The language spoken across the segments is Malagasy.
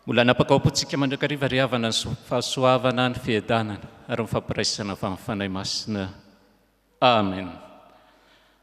Mbola hanapaka ao am-pontsika mandrakariva ry havana ny fahasoavana, ny fiadanana ary ny fampiraisana avy amin'ny Fanahy Masina Amen.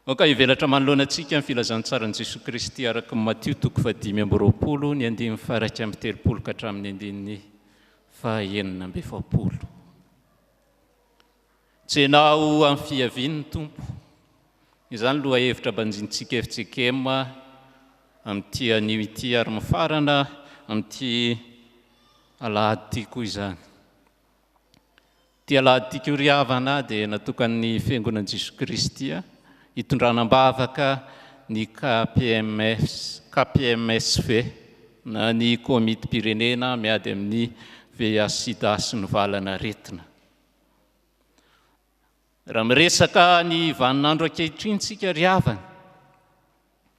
Aoka hivelatra manoloana antsika ny filazantsaran'i Jesoa Kristy araka ny Matio toko fahadimy amby roapolo ny andininy faha-iraika amby telopolo ka hatramin'ny andininy faha-enina amby efapolo. Tsenao amin'ny fiavian'ny Tompo. Izany lohahevitra banjintsika FJKM amin'ity anio ity ary mifarana amin'ity alahady ity koa izany. Ity aladintsika ho ry havana dia natokan'ny Fiangonan'i Jesoa Kristy hitondrana am-bavaka ny KPMS, KPMSV, na ny Komitim-pirenena miady amin'ny VIH-Sida sy ny valan'aretina. Raha miresaka ny vaninandro ankehitriny tsika ry havana,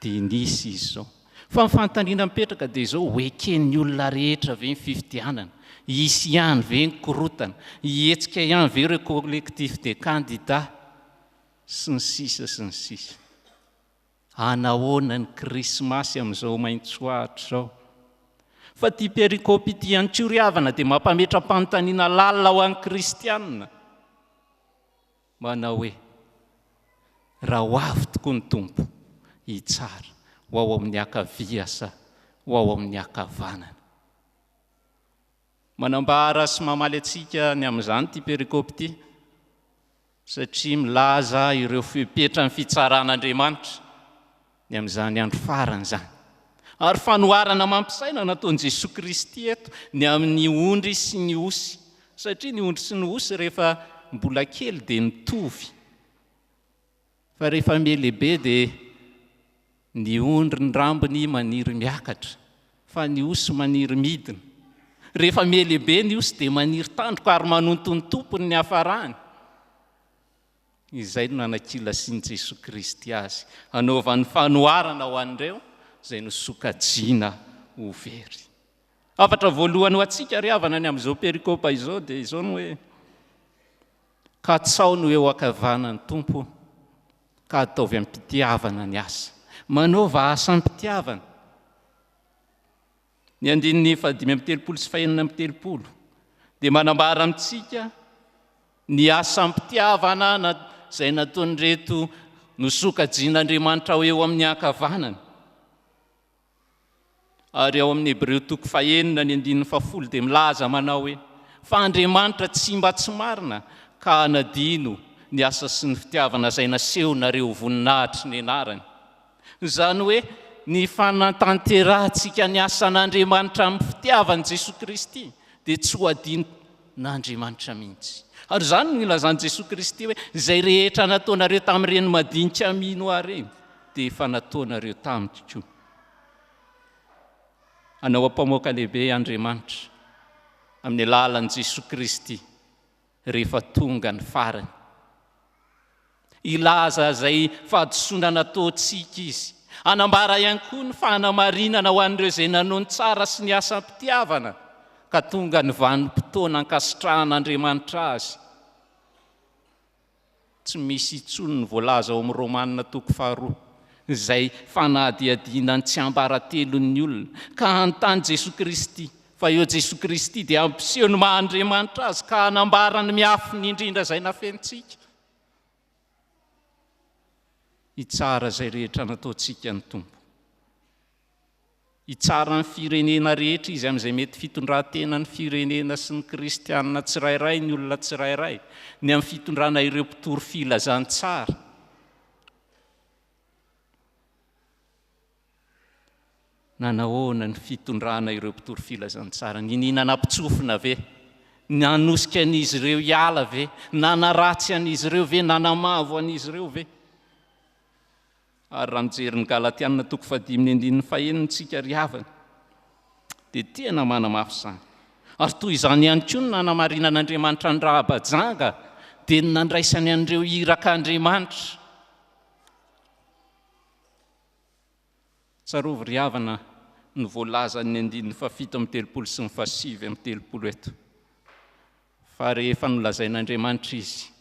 dia nisy izy izao. Fa ny fanontaniana mipetraka dia izao, ho eken'ny olona rehetra ve ny fifidianana? Hisy ihany ve ny korotana? Hihetsika ihany ve ireo collectifs des candidats? sy ny sisa sy ny sisa. Hanahoana ny krismasy amin'izao maitsoahitra izao? Fa ity pericopy ity ihany koa ry havana dia mampametra-panontaniana lalina ho an'ny kristianina. Manao hoe, Raha ho avy tokoa ny Tompo, hitsara ho ao amin'ny ankavia sa ho ao amin'ny ankavanana? Manambara sy mamaly antsika ny amin'izany ity perikopy ity, satria milaza ireo fepetra ny fitsaran'Andriamanitra ny amin'izany andro farany izany, ary fanoharana amam-pisaina nataon'i Jesoa Kristy eto ny amin'ny ondry sy ny osy, satria ny ondry sy ny osy rehefa mbola kely dia mitovy, fa rehefa mihelehibe dia ny ondry ny rambony maniry miakatra, fa ny osy maniry midina, rehefa mihelehibe ny osy dia maniry tandroka ary manonto ny tompony ny hafarany. Izay no nanakilasin'i Jesoa Kristy azy, hanaovany fanoharana ho an'ireo izay nosokajiana ho very. Hafatra voalohany ho antsika ry havana ny amin'izao perikopa izao dia izao ny hoe, Katsaho no eo ankavanan'ny Tompo, ka ataovy am-pitiavana ny asa. Manaova asa am-pitiavana. Ny andininy fahadimy amby telopolo sy fahenina amby telopolo dia manambara amintsika ny asam-pitiavana izay nataon'ireto nosokajian'Andriamanitra ho eo amin'ny ankavanany. Ary ao amin'ny Hebreo toko fahenina ny andininy fahafolo dia milaza manao hoe fa Andriamanitra tsy mba tsy marina ka hanadino ny asa sy ny fitiavana izay nasehonareo voninahitry ny anarany. Izany hoe ny fanantanterahantsika ny asan'Andriamanitra amin'ny fitiavan'i Jesoa Kristy dia tsy ho adinon'Andriamanitra mihitsy. Ary izany no nilazan'i Jesoa Kristy hoe izay rehetra nataonareo tamin'ireny madinika mino Ahy ireny dia efa nataonareo tamiko koa. Anao ampamoaka lehibe Andriamanitra amin'ny alalan'i Jesoa Kristy rehefa tonga ny farany. Hilaza izay fahadisoana nataontsika izy. Hanambara ihany koa ny fanamarinana ho an'ireo izay nanao ny tsara sy ny asam-pitiavana ka tonga ny vanim-potoana ankasitrahan'Andriamanitra azy. Tsy misy intsony ny voalaza ao amin'ny Romana toko faharoa, izay fanadihadiana ny tsiambaratelon'ny olona, ka hanontany Jesoa Kristy, fa eo Jesoa Kristy dia hampiseho ny maha Andriamanitra Azy ka hanambara ny miafina indrindra izay nafenintsika. Hitsara izay rehetra nataontsika ny Tompo. Hitsara ny firenena rehetra izy amin'izay mety fitondran-tenan'ny firenena sy ny kristiana tsirairay ny olona tsirairay, ny amin'ny fitondrana ireo mpitory filazantsara. Na nahoana ny fitondrana ireo mpitory filazantsara? Niniana nampitsofina ve? Nanosika an'izy ireo hiala ve? Nanaratsy an'izy ireo ve? Nanamavo an'izy ireo ve? Ary raha mijery ny Galatiana toko fahadimy ny andininy fahenina isika ry havana dia tena manamafy izany. Ary toy izany ihany koa ny nanamarinan'Andriamanitra an'i Rahaba janga dia ny nandraisany an'ireo iraka Andriamanitra. Tsarovy ry havana ny voalazan'ny andininy fahafito amin'ny telopolo sy ny fahasivy amin'ny telopolo eto fa rehefa nolazain'Andriamanitra izy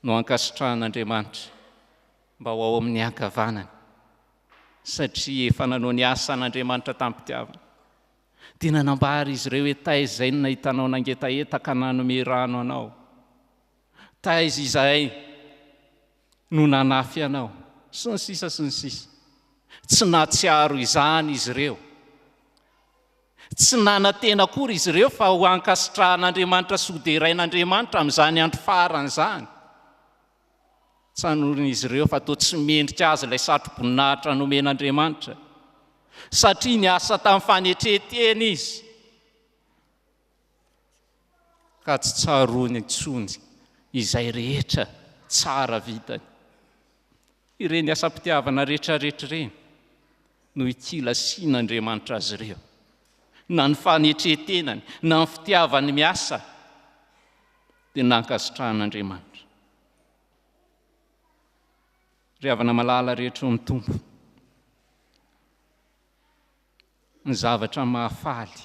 no ankasitrahan'Andriamanitra mba ho ao amin'ny ankavanany, satria efa nanao ny asan'Andriamanitra tamim-pitiavana. Dia nanambara izy ireo hoe, Taiza izay no nahitanao nangetaheta ka nanome rano anao? Taiza izay no nanafy anao? Sy ny sisa sy ny sisa. Tsy nahatsiaro izany izy ireo. Tsy nanantena akory izy ireo fa ho ankasitrahan'Andriamanitra sy hoderain'Andriamanitra amin'izany andro farany izany. Tsanorin'izy ireo fa toa tsy mendrika azy ilay satroboninahitra nomen'Andriamanitra, satria niasa tamin'ny fanetren-tena izy. ka tsy tsaroany intsony izay rehetra tsara vitany. Ireny asam-pitiavana rehetrarehetra ireny no ikilasian'Andriamanitra azy ireo, na ny fanetren-tenany, na ny fitiavany miasa, dia nankasitrahan'Andriamanitra. Ry havana malala rehetra ao amin'ny Tompo, Ny zavatra mahafaly,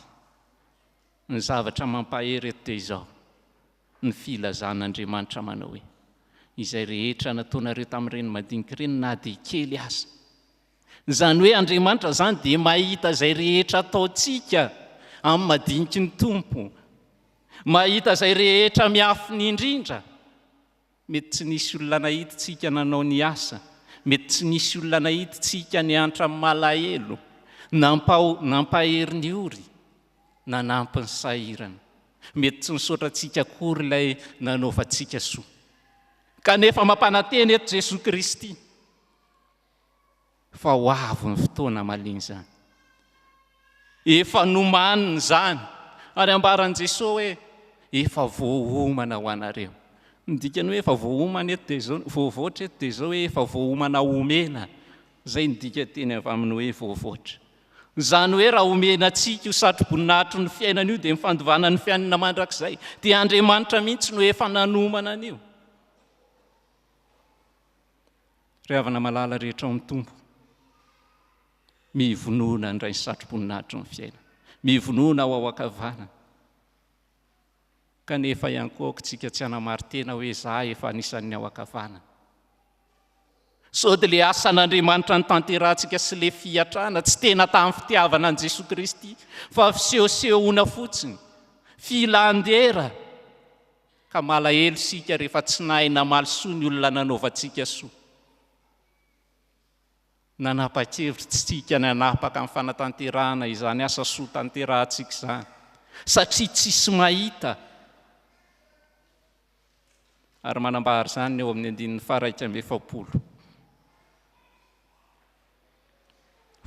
ny zavatra mampahery eto dia izao, ny filazan'Andriamanitra manao hoe, Izay rehetra nataonareo tamin'ireny madinika ireny na dia kely aza. Izany hoe Andriamanitra izany dia mahita izay rehetra ataontsika amin'ny madiniky ny Tompo. Mahita izay rehetra miafina indrindra. Mety tsy nisy olona nahidintsika nanao ny asa, mety tsy nisy olona nahidintsika niantra malahelo, nampao, nampahery ny ory, nanampy ny sahirana. Mety tsy nisaotra antsika akory ilay nanaovantsika soa. Kanefa mampanantena eto Jesoa Kristy. fa ho avy ny fotoana malemy izany. Efa nomaniny izany, ary ambaran'i Jesoa hoe, efa voaomana ho anareo. Ny dikany hoe efa voaomana eto dia izao, voavoatra eto dia izao hoe efa voaomana omena, izay ny dika teny avy amin'ny hoe voavoatra. Izany hoe raha omena antsika io satroboninahitry ny fiainana io dia ny fandovana ny fiainana mandrakizay, dia Andriamanitra mihitsy no efa nanomana an'io. Ry havana malala rehetra ao amin'ny Tompo, mivonona handray ny satroboninahitry ny fiainana, mivonona ho ao ankavanana. Kanefa ihany koa aoka tsika tsy hanamari-tena hoe za efa anisan'ny ao ankavanana. Sao dia le asan'Andriamanitra nitanterahantsika sy le fiatrana tsy tena tamin'ny fitiavana an'i Jesoa Kristy fa fisehosehoana fotsiny, filan-dera. ka malahelo isika rehefa tsy nahay namaly soa ny olona nanaovantsika soa. Nanapa-kevitra tsy isika ny hanapaka amin'ny fanatanterahana izany asa soa tanterahantsika izany, satria tsisy mahita, ary manambara izany ny eo amin'ny andininy faha-iraika amby efapolo.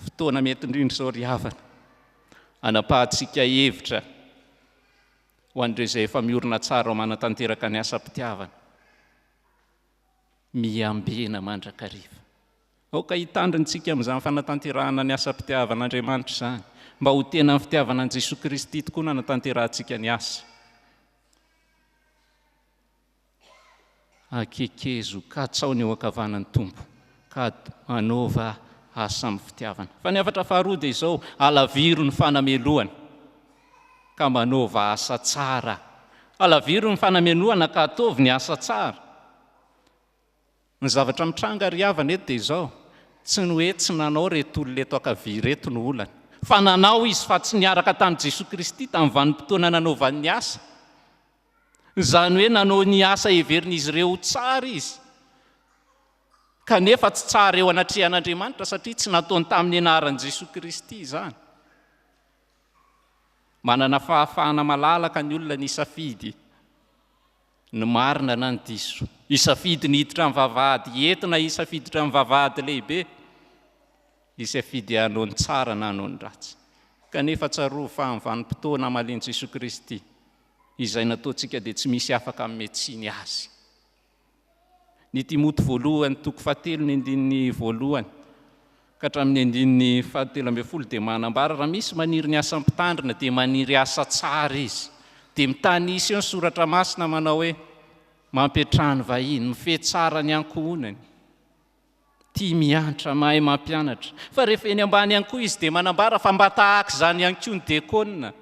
Fotoana mety indrindra izao ry havana, hanapahantsika hevitra, ho an'ireo izay efa miorina tsara ao manatanteraka ny asam-pitiavana. Miambena mandrakariva. Aoka hitandrina isika amin'izany fanatanterahana ny asam-pitiavan'Andriamanitra izany, mba ho tena ny fitiavana an'i Jesoa Kristy tokoa no hanatanterahantsika ny asa. Akekezo ka atsao ny eo ankavanan'ny Tompo, ka anaova asa amin'ny fitiavana. Fa ny hafatra faharoa dia izao, Halaviro ny fanamelohana, ka manaova asa tsara. Halaviro ny fanamenohana ka ataovy ny asa tsara. Ny zavatra mitranga ry havana eto dia izao, tsy ny hoe tsy nanao ireto olona eto ankavia ireto no olana, fa nanao izy fa tsy niaraka tamin'i Jesoa Kristy tamin'ny vanim-potoana nanaovany ny asa. Izany hoe nanao ny asa heverin'izy ireo ho tsara izy, kanefa tsy tsara eo anatrehan'Andriamanitra satria tsy nataony tamin'ny anaran'i Jesoa Kristy izany. Manana fahafahana malalaka ny olona ny safidy ny marina na ny diso. Isafidy ny hiditra amin'ny vavahady hety na isafidy hiditra amin'ny vavahady lehibe. Isafidy hanao ny tsara na hanao ny ratsy. Kanefa tsarovy fa amin'ny vanim-potoana hamalian'i Jesoa Kristy. izay nataontsika dia tsy misy afaka hanome tsiny azy. Ny Timoty voalohany toko fahatelo ny andininy voalohany ka hatramin'ny andininy fahatelo ambin'ny folo dia manambara raha misy maniry ny asa mpitandrina dia maniry asa tsara izy. Dia mitanisa eo ny soratra masina manao hoe mampiantrano ny vahiny, mifehy tsara ny ankohonany, tia miantra, mahay mampianatra. Fa rehefa eny ambany ihany koa izy dia manambara fa mba tahaka izany ihany koa ny diakona.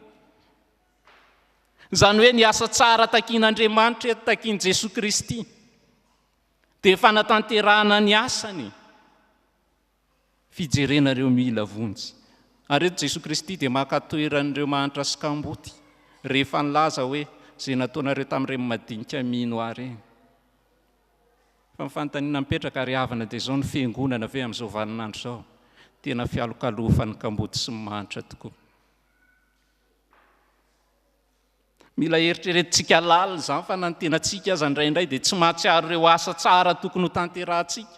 Izany hoe ny asa tsara takin'Andriamanitra eto, takin'i Jesoa Kristy, dia fanatanterahana ny asany, fijerena ireo mila vonjy. Ary eto Jesoa Kristy dia maka toeran'ireo mahantra sy kamboty, rehefa nilaza hoe, izay nataonareo tamin'ireny madinika mino ahy ireny. Fa ny fanontaniana mipetraka, ary havana dia izao ny fiangonana ve amin'izao vaninandro izao? Tena fialokalofan'ny kamboty sy ny mahantra tokoa. Mila heritreretintsika lalina izany fa na ny tenantsika aza indraindray dia tsy mahatsiaro ireo asa tsara tokony hotanterahantsika,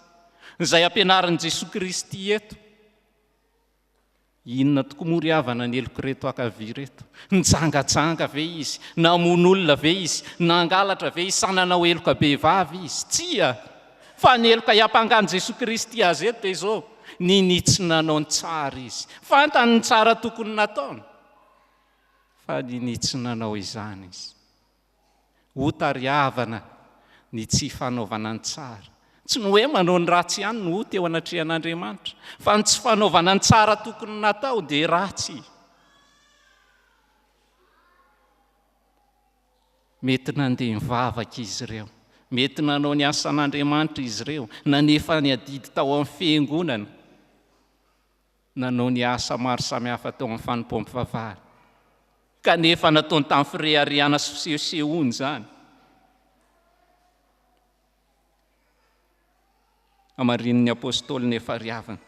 izay ampianarin'i Jesoa Kristy eto. Inona tokoa moa ry havana ny heloka ireto ankavia ireto? Nijangajanga ve izy? Namono olona ve izy? Nangalatra ve izy? Sa nanao heloka bevava izy? Tsia! Fa ny heloka hiampangan'i Jesoa Kristy azy eto dia izao, ninitsy nanao ny tsara izy. Fantany ny tsara tokony nataony, fa ninitsy nanao izany izy. Ho tariavana ny tsy fanaovana ny tsara. Tsy ny hoe manao ny ratsy ihany no ho teo anatrehan'Andriamanitra, fa ny tsy fanaovana ny tsara tokony natao dia ratsy. Mety nandeha nivavaka izy ireo. Mety nanao ny asan'Andriamanitra izy ireo, nanefa ny adidy tao amin'ny fiangonana, nanao ny asa maro samihafa tao amin'ny fanompoam-pivavahana, kanefa nataony tamin'ny fireharehana sy fisehosehoana izany. Hamarinin'ny apostoly ny efa ry havana.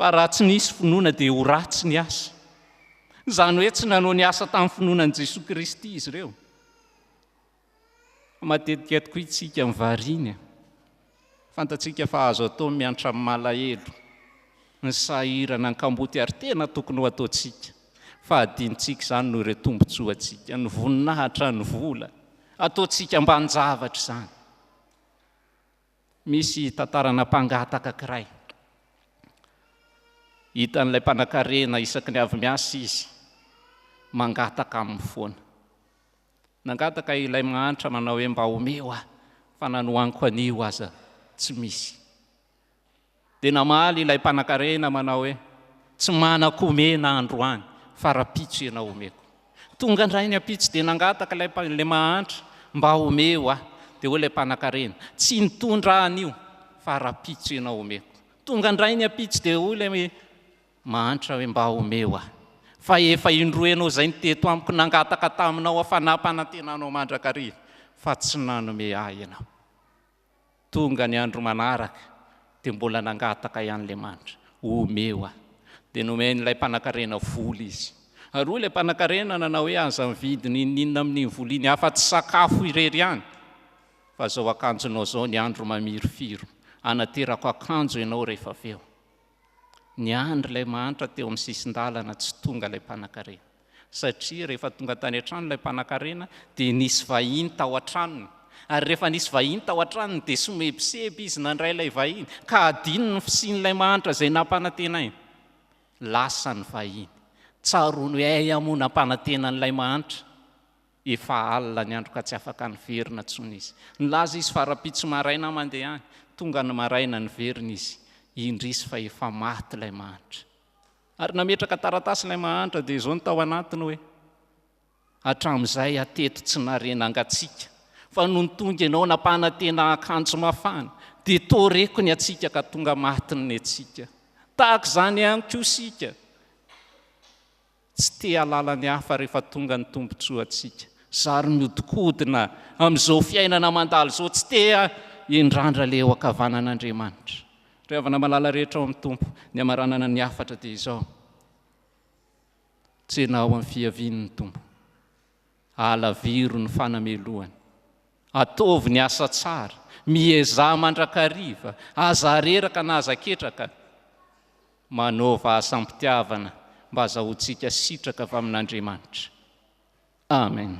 Fa raha tsy nisy finoana dia ho ratsy ny asa. Izany hoe tsy nanao ny asa tamin'ny finoana an'i Jesoa Kristy izy ireo. Matetika tokoa isika ny variana. Fantatsika fa azo atao ny miantra amin'ny malahelo, ny sahirana, ny kamboty ary tena tokony ho ataontsika. Fa adinontsika izany noho ireo tombontsoantsika, ny voninahitra, ny vola. Ataontsika ambanin-javatra izany. Misy tantarana mpangataka kiray. Hitan'ilay mpanankarena isaky ny avy miasa izy, mangataka aminy foana. Nangataka ilay mahantra manao hoe mba omeo aho fa nanohaniko anio aza tsy misy. Dia namaly ilay mpanankarena manao hoe, Tsy manako omena androany fa rahampitso ianao omeko. Tonga indray ny ampitso dia nangataka ilay ilay mahantra mba omeo ahy. Dia hoy ilay mpanankarena, Tsy nitondra ahy anio fa rahampitso ianao omeko. Tonga indray ny ampitso dia hoy ilay mahantra hoe, Mba omeo ahy fa efa indroa ianao izay no teto amiko nangataka taminao aho fa nampanantena anao mandrakariva fa tsy nanome ahy ianao. Tonga ny andro manaraka dia mbola nangataka ihany ilay manitra, omeo aho. Dia nomen'ilay mpanankarena vola izy. Ary hoy ilay mpanankarena nanao hoe, aza mividy n'inon'inona amin'iny vola iny afa-tsy sakafo irery ihany, fa izao akanjonao izao ny andro mamirifiry, hanaterako akanjo ianao rehefa avy eo. Niandry ilay mahantra teo amin'ny sisin-dalana tsy tonga ilay mpanankarena. Satria rehefa tonga tany an-trano ilay mpanankarena dia nisy vahiny tao an-tranony. Ary rehefa nisy vahiny tao an-tranony dia somebiseby izy nandray ilay vahiny ka adinony ny fisian'ilay mahantra izay nampanantenainy. Lasa ny vahiny. Tsaroany hoe hay aho moa nampanantena an'ilay mahantra. Efa alina ny andro ka tsy afaka niverina intsony izy. Nilaza izy fa rahampitso maraina mandeha any. Tonga ny maraina, niverina izy. Indrisy fa efa maty ilay mahantra. Ary nametraka taratasy ilay mahantra dia izao no tao anatiny hoe, Hatramin'izay hatety tsy nare nangatsiaka, fa nony tonga ianao nampanantena akanjo mafana, dia toa reko ny hatsiaka ka tonga maty ny netsika. Tahaka izany ihany koa isika. Tsy te halala ny hafa rehefa tonga ny tombotsoantsika. Zary miodikodina amin'izao fiainana mandalo izao, tsy te hindrandra ilay eo ankavanan'Andriamanitra. Ry havana malala rehetra ao amin'ny Tompo, ny hamaranana ny hafatra dia izao, tsena ao amin'ny fiavian'ny Tompo, alaviro ny fanamelohany. Ataovy ny asa tsara, miezaha mandrakariva, aza areraka na aza ketraka. Manaova asa am-pitiavana mba azahoantsika sitraka avy amin'Andriamanitra. Amen.